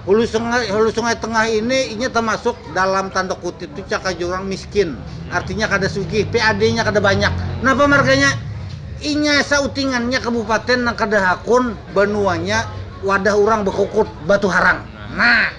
Hulu Sungai Tengah ini inya tamasuk dalam tanda kutip tu cakah jurang miskin, artinya kada sugih, PAD-nya kada banyak. Napa marganya? Inya sautingannya kabupaten nang kada hakun banuanya wadah urang bakukut batu harang. Nah.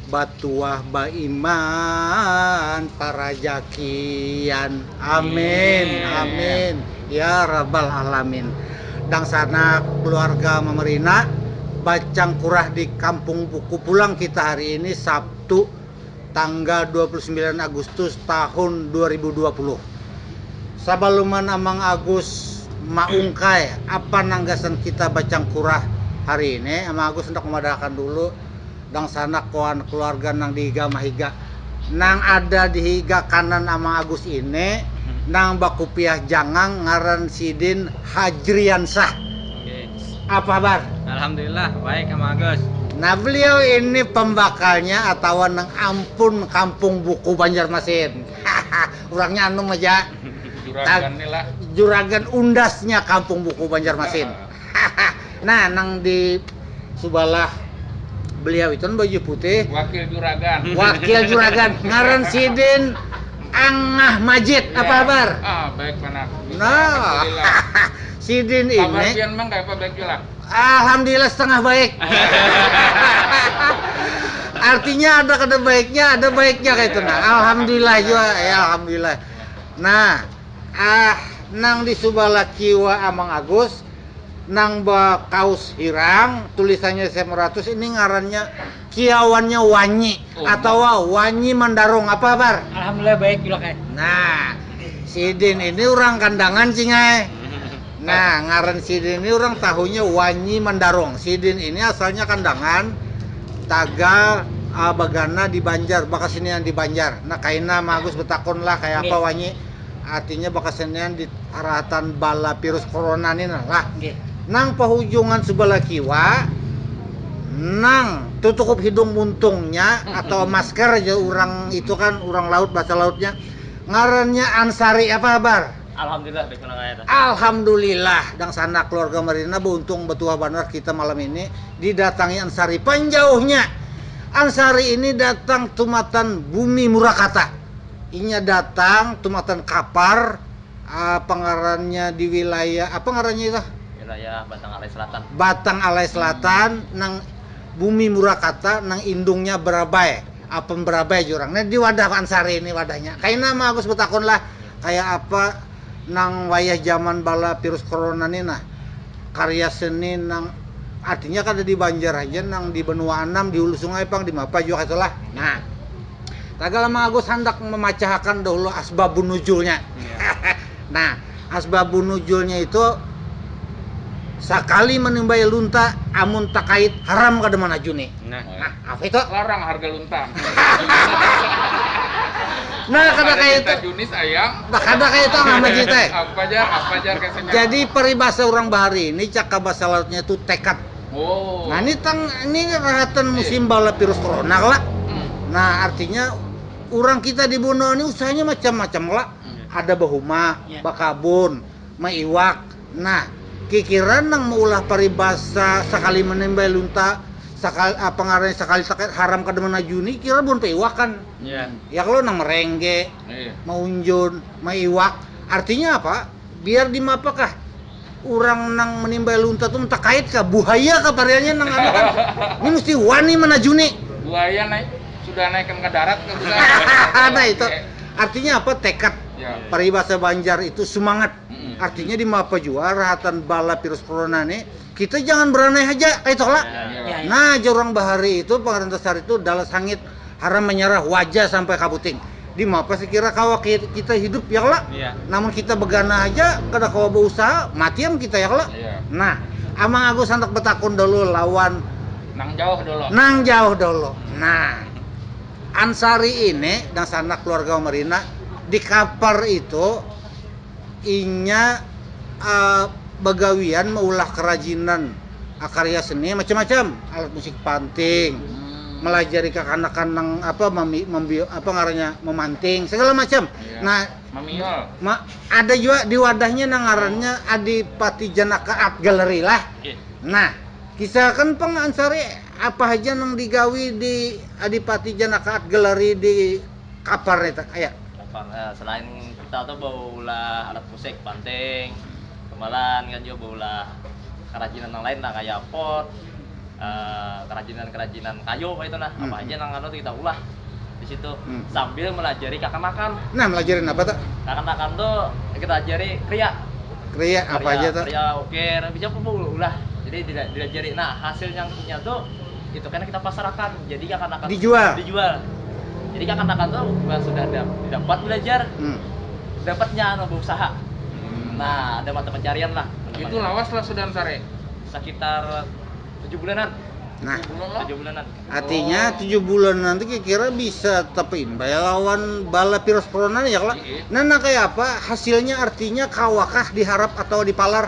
batuah baiman parajakian amin amin ya rabbal alamin dangsanak keluarga mamarina bacang kurah di kampung buku pulang kita hari ini sabtu tanggal 29 agustus tahun 2020 sabaluman amang agus maungkai apa nang gasan kita bacang kurah hari ini amang agus handak mamadahakan dulu. dangsanak wan keluarga nang di higa mahiga nang ada di higa kanan amang agus ini nang bakupiah jangang ngaran sidin hajriansah apa habar alhamdulillah baik amang agus nah beliau ini pembakalnya atawa nang ampun kampung buku banjarmasin haha urangnya anum haja juragan undasnya kampung buku banjarmasin. nah nang di subalah beliau itu baju putih wakil juragan wakil juragan ngaran sidin Angah Majid ya. apa kabar ah baik panak nah sidin ini kabar pian mang kayak apa baik juga alhamdulillah setengah baik artinya ada kada baiknya ada baiknya kayak itu nah alhamdulillah juga ya alhamdulillah nah Ah, nang di subalah kiwa Amang Agus, nang ba kaus hirang, tulisannya sm ratus, ini ngarannya kiawannya Wanyi atawa Wanyi Mandarung. Apa habar? Alhamdulillah baik Julak ai. Nah, sidin ini urang Kandangan Cing ai. Nah, ngaran sidin ini urang tahunya wanyi mandarong. Sidin ini asalnya kandangan, tagal uh, bagana di Banjar, bakasenian di Banjar. Nah, kaina Ma Agus betakun lah kaya apa wanyi artinya bakasenian di arahatan bala virus corona ni nah lah. Nang pahujungan sebelah kiwa nang tutukup hidung muntungnya atau masker aja orang itu kan orang laut bahasa lautnya ngarannya ansari apa habar Alhamdulillah bes menang ae ta. Alhamdulillah dangsanak keluarga Marina beuntung betuah banar kita malam ini didatangi Ansari pan jauhnya Ansari ini datang tumatan bumi murakata inya datang tumatan kapar apa ngarannya di wilayah apa ngarannya itu wilayah Batang Alai Selatan Batang Alai Selatan nang bumi murakata nang indungnya berabai apan berabai jurang nah di wadah Ansari ini wadahnya kaina ma Agus betakun lah kaya apa nang wayah jaman bala virus corona ni nah, karya seni nang artinya kada di Banjar haja nang di banua anam, di hulu sungai pang, di mapa jua kaytu lah. Nah, tagal Amang Agus handak mamacahakan dahulu asbabun nuzulnya. nah, asbabun nuzulnya itu sakali manimbai lunta amun takait haram kada manajuni. Nah. Apa itu? Larang harga luntang. Nah, kada kaya itu. Junis ayam. Nah, kada kaya itu Angah Maji teh. Apa jar? Apa jar kasih nama? Jadi peribahasa urang bahari ini caka bahasa Lautnya itu tekad. Oh. Nah, ini tang ini rahatan iya. musim bala virus corona kala. Hmm. Nah, artinya orang kita di Bono ini usahanya macam-macam kala. Hmm. Ada bahuma, yeah. bakabun, maiwak, Nah, kikiran nang maulah paribasa sakali manimbai lunta sakal apa ngarannya sakali sakit haram kada manajuni kira buhan paiwakan. Iya. Ya kalo nang merengge, Iya. maunjun, maiwak, artinya apa? Biar dimapa kah urang nang manimbai lunta tu takait kah buhaya kah pariannya nang anu kan. Ni musti wani manajuni. Buhaya naik sudah naikkan ka darat kah bukan? nah itu artinya apa tekad Ya. paribasa Banjar itu sumangat Artinya di mapa jua rahatan bala virus corona ni kita jangan beranai haja kaitoh lah. Nah jar urang bahari itu pengarintah sari tu dalas hangit haram manyarah waja sampai kabuting. Di mapa sekira kawa kita hidup ya kala? Namun kita beganah haja kada kawa beusaha mati am kita ya kala? Nah Amang Agus handak betakun dahulu lawan Nang Jauh dulu. Nang Jauh dulu. Nah Ansari ini nang sanak keluarga Marina di kapar itu. inya bagawian maulah kerajinan karya seni macam-macam alat musik panting melajari kakanakan nang apa mami, mambi, apa ngarannya memanting segala macam iya. nah mamiol ma, ada juga di wadahnya nang ngarannya oh. Adipati Janaka Art Gallery lah iya. nah kisahkan pang ansari apa aja nang digawi di Adipati Janaka Art Gallery di kabar nih tak ayak. Kabar eh, selain kita tuh baulah alat musik banting, gamelan kan juga baulah kerajinan nang lain lah kayak pot, eh, kerajinan-kerajinan kayu kayak itu nah hmm. apa aja nang anu tuh kita ulah di situ hmm. sambil melajari kakanakan. Nah, melajarin apa tuh? Kakanakan tuh kita ajari kriya. Kriya apa aja tuh? Kriya ukir, bisa pun ulah. Jadi dilajari. Nah, hasil yang punya tuh itu kena kita pasarkan jadi kekanakan dijual dijual jadi kekanakan tuh bukan sudah dapat belajar hmm. dapatnya anu berusaha hmm. nah ada mata pencarian lah itu lawas lah sudah sare sekitar tujuh bulanan Nah, tujuh bulanan. Artinya oh. tujuh bulan nanti kira-kira bisa tapi ya lawan bala virus corona ya lah. Iya. Nah, nah kayak apa hasilnya artinya kawakah diharap atau dipalar?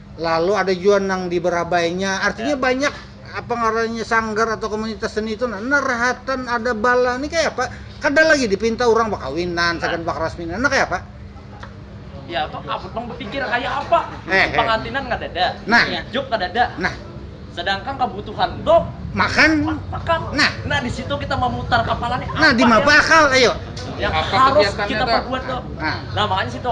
Lalu ada jua nang di berabainya, artinya ya. banyak apa ngarannya sanggar atau komunitas seni itu nah, nah rahatan ada bala ini kayak apa? Kada lagi dipinta orang bakawinan, nah. sagan bakaras minan, nah kayak apa? Ya apa? Apa bang berpikir kayak apa? Eh, eh. pengantinan kada ada, nah. job kada ada. Nah. Sedangkan kebutuhan itu makan makan nah nah di situ kita memutar kepala nih nah di mapa ya? akal ayo yang apa harus kita perbuat tuh nah. nah makanya situ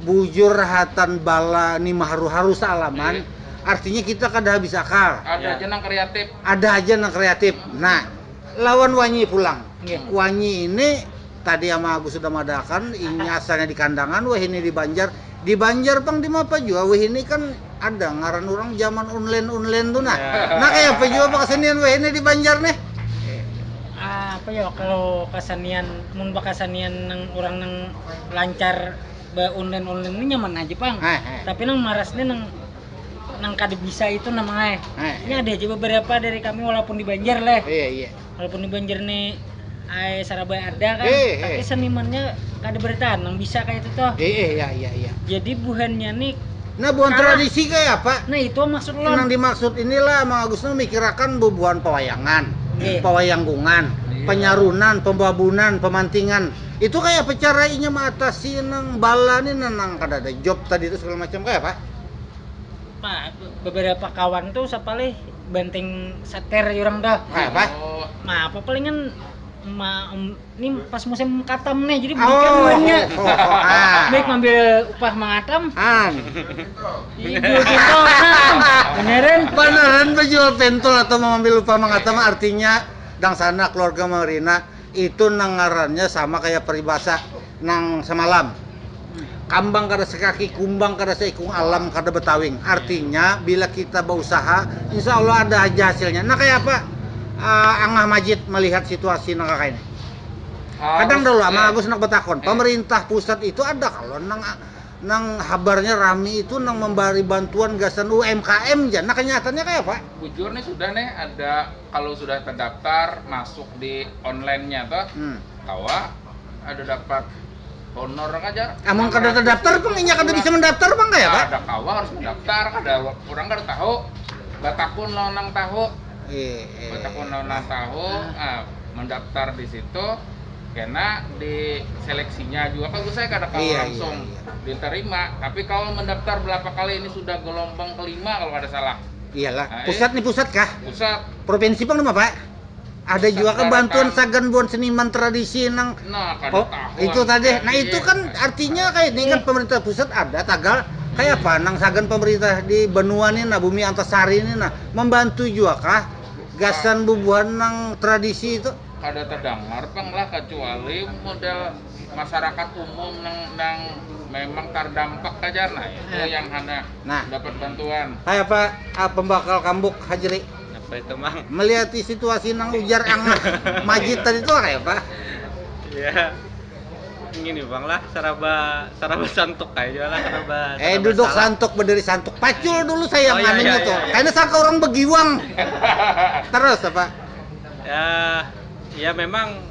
bujur hatan bala ni maharu-haru saalaman, artinya kita kada habis akal. Ada aja nang kreatif. Ada aja nang kreatif. Nah, lawan wanyi pulang. Wanyi ini tadi Ama Agus sudah madaakan, inya asalnya di Kandangan, wahini di Banjar. Di Banjar pang dimapa jua, wahini kan ada ngaran urang zaman unlen-unlen tu nah. Nah, kayapa jua apa kasenian wahini di Banjar nih? Ah, apa yo kalau kasenian, mun bakasenian nang urang nang lancar be online online ini nyaman aja pang Hai, hai. tapi nang maras nih nang nang kada bisa itu namanya Hai, ini ada aja beberapa dari kami walaupun di Banjar leh iya iya walaupun di Banjar nih ay Sarabaya ada kan Hei, hei. tapi senimannya kada bertahan nang bisa kayak itu toh iya iya iya iya jadi buhannya nih Nah, buhan Kalah. tradisi kayak apa? nah itu maksud lo Nang dimaksud inilah Mang Agus nu mikirakan bubuhan pewayangan, Iya. pawayangkungan, Iya. penyarunan, pembabunan, pemantingan. Itu kayak apa cara inya mengatasi nang bala nih nang, nang kada ada job tadi itu segala macam kayak apa? Ma, beberapa kawan tuh sapalih banting setir orang tuh. Kayak apa? Oh. Ma, apa palingan ma, um, ini pas musim katam nih, jadi beli ikan oh, oh, oh, ah. Baik ngambil upah mengatam. Ah. Iya, jual pentol. Nah, beneran. Beneran penjual pentol atau mengambil upah mengatam artinya dang sana keluarga Marina Itu nang ngarannya sama kaya paribasa nang samalam, Kambang kada sakaki, kumbang kada saikung, alam kada batawing. Artinya, bila kita bausaha, insya Allah ada haja hasilnya. Nah, kaya apa Angah Majid malihat situasi nang kakaini? Kadang tahu lah, Mang Agus handak batakun, pamarintah pusat itu ada kalo nang nang habarnya rami itu nang mambari bantuan gasan UMKM ja. Nah, kanyataannya kaya apa? Bujur nih, sudah nih ada. Kalau sudah terdaftar masuk di online-nya tuh, hmm. kawa ada dapat honor kan aja. Amun kada terdaftar pang inya kada bisa mendaftar pang kaya Pak? Ada kawa harus mendaftar, kada orang kada tahu. Batakun lawan nang tahu. Eh, eh. Batakun lawan nang tahu, ah, mendaftar di situ karena di seleksinya juga kan saya kada kalau iya, iya, langsung iya, iya. diterima tapi kalau mendaftar berapa kali ini sudah gelombang kelima kalau ada salah Iyalah, Nah, eh. pusat ni pusat kah? Pusat. Provinsi pang nama pak? Ada Pusat juga kan baratan. bantuan sagan buat seniman tradisi nang Nah, kada Oh, tahu. itu aku tadi. Nah, tadi. itu kan artinya kayak ini kan pemerintah pusat ada tagal kayak apa nang sagan pemerintah di benua ni nah bumi antasari ni nah membantu juga kah gasan bubuhan nang tradisi itu kada terdengar pang lah kecuali model masyarakat umum yang memang terdampak saja nah itu eh. yang hanya nah. dapat bantuan. Hai apa ah, pembakal kambuk Hajri? Apa itu mang? Melihat situasi nang ujar ang majid tadi itu kayak apa? Ya gini bang lah seraba seraba santuk aja lah seraba, seraba eh duduk salah. santuk berdiri santuk pacul dulu saya oh, iya, iya, tuh iya, iya. karena sangka orang begiwang terus apa ya ya memang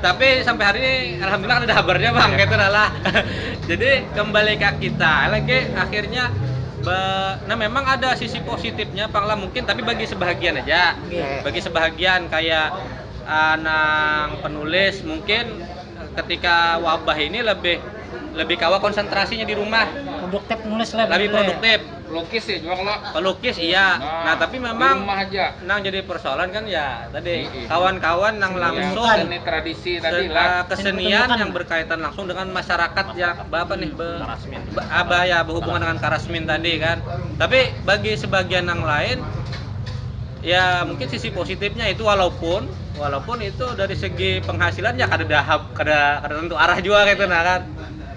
tapi sampai hari ini alhamdulillah ada habarnya bang gitu lah jadi kembali ke kita lagi akhirnya be, nah memang ada sisi positifnya panglah mungkin tapi bagi sebahagian aja iya. bagi sebahagian kayak uh, nang penulis mungkin ketika wabah ini lebih lebih kawa konsentrasinya di rumah produktif nulis lebih produktif Pelukis ya juga kalau pelukis iya nah, tapi memang nang jadi persoalan kan ya tadi kawan-kawan nang langsung ini tradisi tadi lah eh, kesenian yang berkaitan langsung dengan masyarakat yang apa nih be, be, apa ya berhubungan dengan karasmin tadi kan tapi bagi sebagian yang lain ya mungkin sisi positifnya itu walaupun walaupun itu dari segi penghasilan ya kada dahap kada kada tentu arah juga gitu nah kan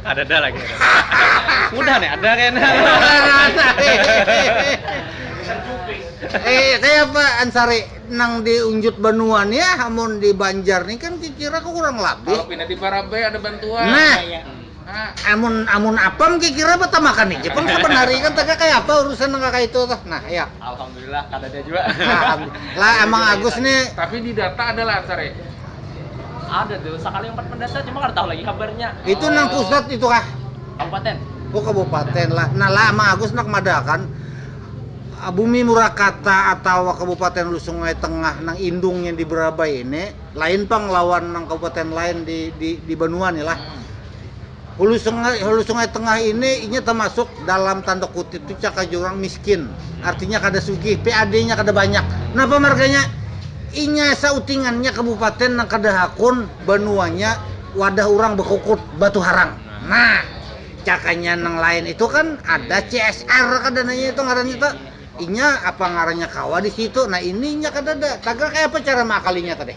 Kadada lagi. Udah nih ada kena. Eh, kayak apa Ansari nang di unjut banua nih ya, amun di Banjar nih kan kira kurang lebih. Kalau pindah di Barabai ada bantuan. Nah, iya, iya. amun amun apam kira-kira betamakan nih, pang saban hari kan taga kayak apa urusan nang kaya itu tuh. Nah, ya. Lah kadada jua. Lah emang Agus nih. Tapi di data ada lah ansar ya. Ada tuh, sekali empat pendata cuma kada tahu lagi kabarnya. Itu oh. nang pusat itu kah? Kabupaten. Oh kabupaten lah. Nah lah emang Agus nak madakan ah, bumi Murakata atau Kabupaten Hulu Sungai Tengah nang indungnya di Berabai ini lain pang lawan nang kabupaten lain di di, di Banua nih lah. Hmm. Hulu Sungai, Hulu Sungai Tengah ini inya tamasuk dalam tanda kutip tu caka jurang miskin. Artinya kada sugih, PAD-nya kada banyak. Napa marganya? Inya sautingannya kabupaten nang kada hakun banuanya wadah urang bakukut batu harang. Nah, cakanya nang lain itu kan ada CSR kada nanya itu ngarannya tu. Inya apa ngarannya kawa di situ. Nah, ini inya kadada. Tagal kaya apa cara maakalinya tadi?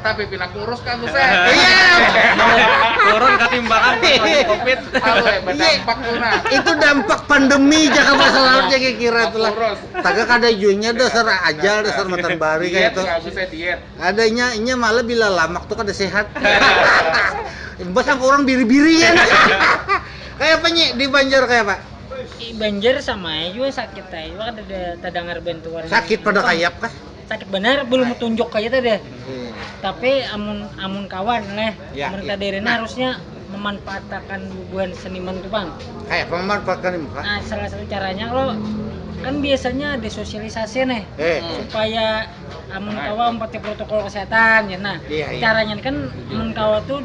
tapi pina kurus kan tuh saya turun ketimbangan iya. covid tahu ya berdampak tuh nah itu dampak pandemi jaga bahasa lautnya kayak kira tuh lah taga kada junya dasar ajal dasar matan bari kayak itu adanya inya malah bila lamak tuh kada sehat imbas yang orang biri-biri kan kayak apa nyi di Banjar kayak apa Banjar sama aja juga sakit aja kada ada terdengar bentuan sakit pada kayak apa sakit benar belum tunjuk kayak itu deh hmm. tapi amun amun kawan leh ya, mereka ya. Nah. harusnya memanfaatkan bubuhan seniman tuh bang kayak memanfaatkan ini nah salah satu caranya lo kan biasanya ada sosialisasi nih eh. supaya amun kawa empati protokol kesehatan ya nah iya, iya. caranya kan amun kawa tuh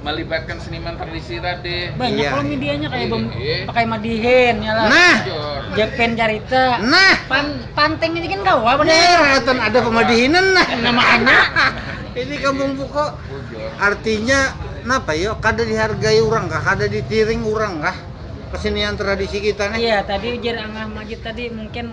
melibatkan seniman tradisi rade Banyak Iya. kalau medianya kayak bem, Iya. pakai madihin ya lah. Nah, Jor. Jepen carita. nah, Pan, panteng ini kan kawa pada. bener atan ada pemadihinan nah. Nama anak. Ini kampung buko Jor. artinya napa yo kada dihargai orang kah kada ditiring orang kah kesenian tradisi kita nih Iya, tadi ujar Angah Majid tadi mungkin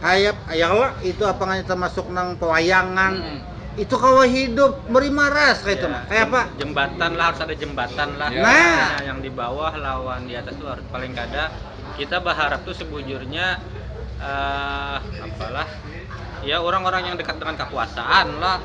hayap ayalah itu apa nggak termasuk nang pewayangan hmm. itu kawa hidup beri maras kayak itu ya, nah kayak apa jembatan lah harus ada jembatan lah ya. nah yang di bawah lawan di atas luar paling kada kita berharap tuh sebujurnya uh, apalah ya orang-orang yang dekat dengan kekuasaan lah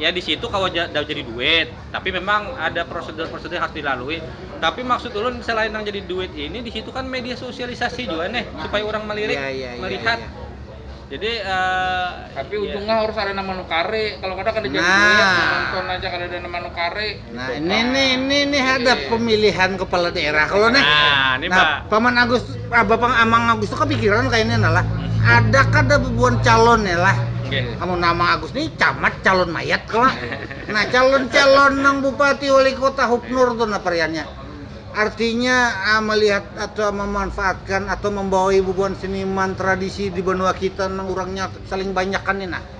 ya di situ kalau udah jadi duit tapi memang ada prosedur-prosedur harus dilalui tapi maksud ulun selain yang jadi duit ini di situ kan media sosialisasi juga nih supaya orang melirik ya, ya, ya, melihat ya, ya. Jadi uh, tapi ya. ujungnya harus ada nama nukari. Kalau kada kan jadi nah. duit, nonton aja kada ada nama nukari. Nah, gitu. ini nih, ini nih ada iya. pemilihan kepala daerah kalau nih. Nah, ini nah, Pak. Paman Agus, ah, Bapak Amang Agus tuh kepikiran kayaknya nalah. Ada kada bebuan calon ya lah. Okay. Kamu nama Agus nih camat calon mayat kalau. Nah, calon-calon nang bupati wali kota Hubnur tuh nah pariannya. Artinya ah, melihat atau memanfaatkan atau membawa ibu buan seniman tradisi di benua kita nang orangnya saling banyak kan ini nah.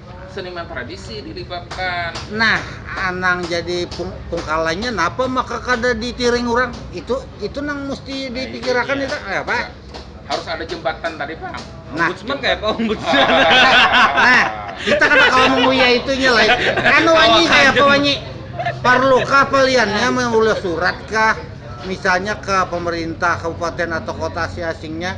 Seniman tradisi dilibatkan. Nah, anang jadi pung, pungkalanya napa maka kada ditiring orang? Itu itu nang mesti nah, dipikirakan itu, ya. ya, Pak. Harus ada jembatan tadi, Pak. Nah, ombudsman kayak apa ombudsman? nah, kita kan kalau menguya itunya lah. Anu wanyi kayak apa wanyi? Perlukah peliannya mengulah surat kah? Misalnya ke pemerintah kabupaten atau kota si asingnya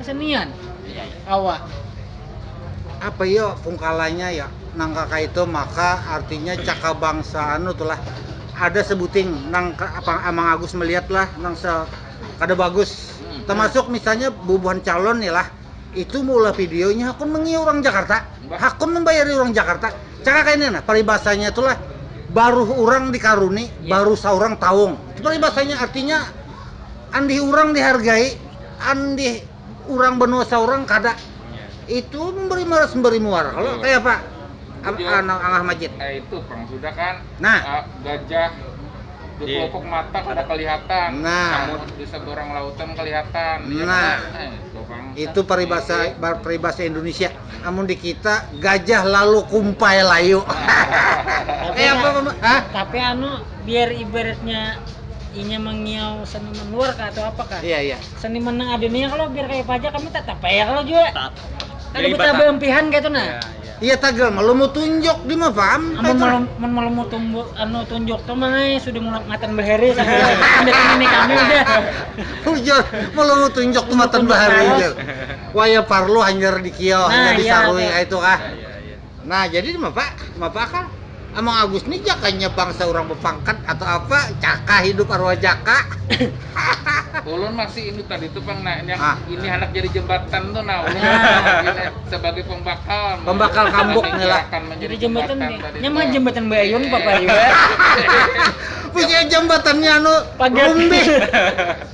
kesenian awak apa yo pungkalanya ya nangka kaitu maka artinya caka bangsa anu tulah ada sebuting nang apa amang agus melihat lah nang se kada bagus hmm. termasuk misalnya bubuhan calon nih lah itu mula videonya hakun mengi orang Jakarta hakun membayari orang Jakarta caka kaini nah paribasanya itulah baruh orang dikaruni ya. baruh seorang taung paribasanya artinya andih urang dihargai andih urang benua saurang kada itu memberi malas memberi muar kalau kayak apa Ab- Jadi, anu, angah majid eh, itu perang sudah kan Nah. Eh, gajah di Iya. pokok mata kada kelihatan Nah. namun di seberang lautan kelihatan Iya, Nah. kan? Eh, itu perang itu peribahasa peribahasa Indonesia Amun di kita gajah lalu kumpai layu. Tapi, eh, tapi anu biar ibaratnya inya mengiau seniman luar kah atau apa kah? Iya iya. Seniman nang ada nih kalau biar kayak pajak kami tetap ya kalau juga. Ada betapa empihan kayak itu nah. Iya, iya. iya tagal malu mau tunjuk di mah paham. Amun malu mun malu mau tunjuk anu tunjuk tuh mah eh, sudah mulai matan bahari sampai ini kami udah. Hujan malu mau tunjuk tuh matan bahari. Wah ya parlu hanyar di kiau, hanyar di sarui kaya itu kah. Nah jadi mapa, mapa akal. Amang Agus ni jakanya bangsa urang bapangkat atau apa, caka hidup arwah jaka. Ulun masih ingat tadi tu pang nah, yang ah. ini handak jadi jembatan tu nah, ulun nah. sebagai pembakal. Pembakal kambuk ni lah. Jadi jembatan, jembatan nya mah jembatan Bayun papa ya. Punya jembatannya anu, Pagat.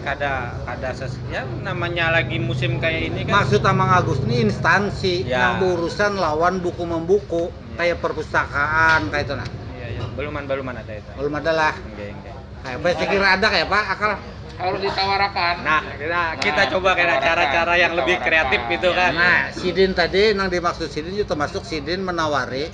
kada kada ses ya namanya lagi musim kayak ini kan Maksud Amang Agus ini instansi Ya. yang berurusan lawan buku membuku Ya. kayak perpustakaan kayak itu nah. Iya, iya. baluman baluman ada itu Belum ada lah. Enggak, enggak. Kayak apa? Saya kira ada kayak apa akal? harus ditawarakan nah kita, kita Nah, coba kena ditawarkan, cara-cara yang lebih ditawarkan. kreatif gitu kan Nah, sidin tadi yang dimaksud sidin itu termasuk sidin menawari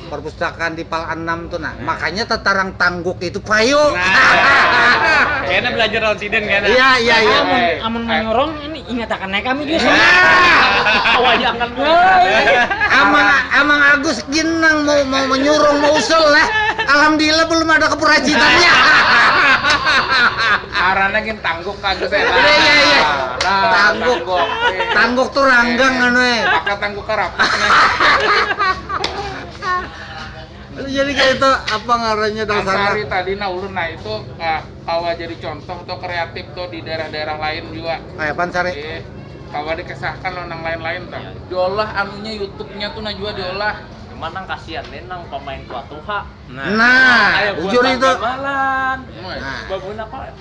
perpustakaan di pal anam tuh nah. Makanya tetarang tangguk itu payu. Nah. Kena belajar lawan sidin kena. Iya iya iya. Amun amun manyurung ini ingatakan naik kami juga. Nah. Wayangan. Amang Amang Agus gin nang mau mau menyurung mau usul lah. Alhamdulillah belum ada kepurajitannya. Arana gin tangguk Agus. Iya iya iya. Tangguk. Tangguk tuh ranggang anu eh. karapat nih jadi kayak itu apa ngarannya dong sana hari tadi nah ulun nah itu uh, kawa jadi contoh tuh kreatif tuh di daerah-daerah lain juga kayak apa sari eh, kawa dikesahkan lo nang lain-lain tuh iya. diolah anunya YouTube-nya tuh nah juga diolah cuman nang kasihan nih nang pemain tua tuha nah, nah, nah jujur itu malan nah. babun apa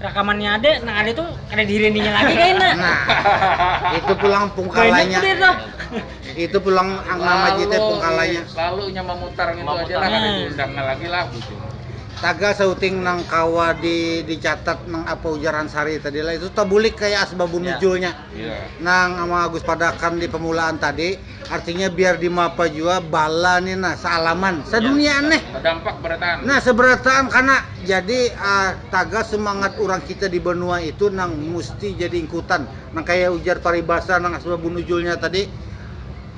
rakamannya ada nah ada tuh ada di rendinya lagi kan nah itu pulang pungkalanya itu pulang nama jite pungkalanya lalu nya memutar gitu lalu aja lah ada diundangnya lagi lah gitu taga sauting nang kawa di dicatat nang apa ujaran sari tadi lah itu tabulik kayak asbabun nujulnya Nang Amang Agus padakan di pamulaan tadi, artinya biar di mapa jua bala ni nah saalaman, saduniaan nih. Sadampak barataan. Nah, sabarataan kana. Jadi tagal sumangat urang kita di banua itu nang musti jadi ingkutan. Nang kaya ujar paribasa nang asbab bunujulnya tadi,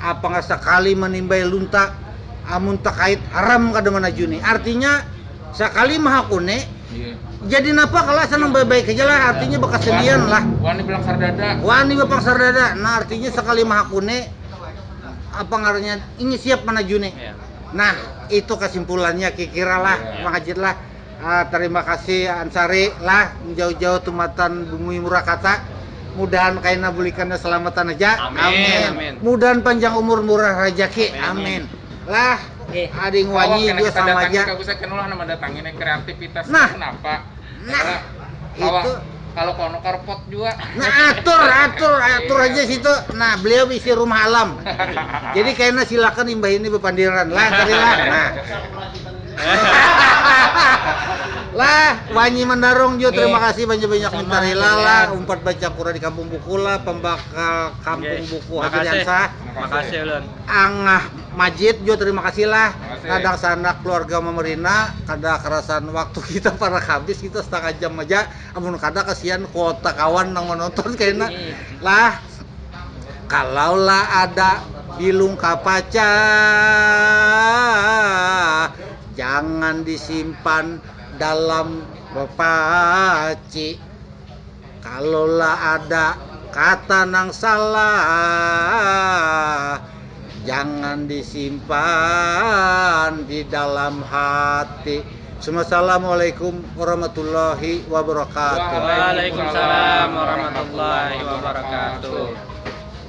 apanga sakali manimbai lunta, amun takait haram kada manajuni. Artinya. Sakali mahakuni, jadi napa kala senang baik-baik haja lah, artinya bakasendian lah. Wani balangsar dada. Wani bapangsar dada, nah artinya sakali mahakuni apa ngarannya ini siap manajuni. Nah, itu kasimpulannya kikira lah Mang Hajid lah. Tarima kasih Ansari lah jauh-jauh tumatan Bumi Murakata. Mudahan kaina bulikannya salamatan haja. Amin. Mudahan panjang umur murah rajaki. Amin. Lah. Ading Bawa wanyi kena jua kita sama datangi aja. kagusnya kena ulah nama datangi nih kreativitas Nah. kenapa? Nah, Karena kalau itu. kalau kono karpot juga. Nah atur, atur, atur Iya. aja situ. Nah beliau isi rumah alam. Jadi kena silakan imbah ini bepandiran lah tadi lah. Nah. lah wanyi mendarung jua terima Nggih. kasih banyak banyak Sama, minta rela lah Kalian. umpat baca kura di kampung buku lah pembakal kampung Nggih. buku Habib Makasih. Yansah Makasih ulun. angah Majid jua terima kasih lah. Makasih. Kadang sanak keluarga memerina, kada kerasan waktu kita parak habis kita setengah jam aja. Amun kada kasihan kuota kawan nang menonton kena lah. Kalau lah ada bilung kapaca, jangan disimpan dalam bepaci. Kalolah ada kata nang salah, jangan disimpan di dalam hati. Assalamualaikum warahmatullahi wabarakatuh. Waalaikumsalam warahmatullahi wabarakatuh.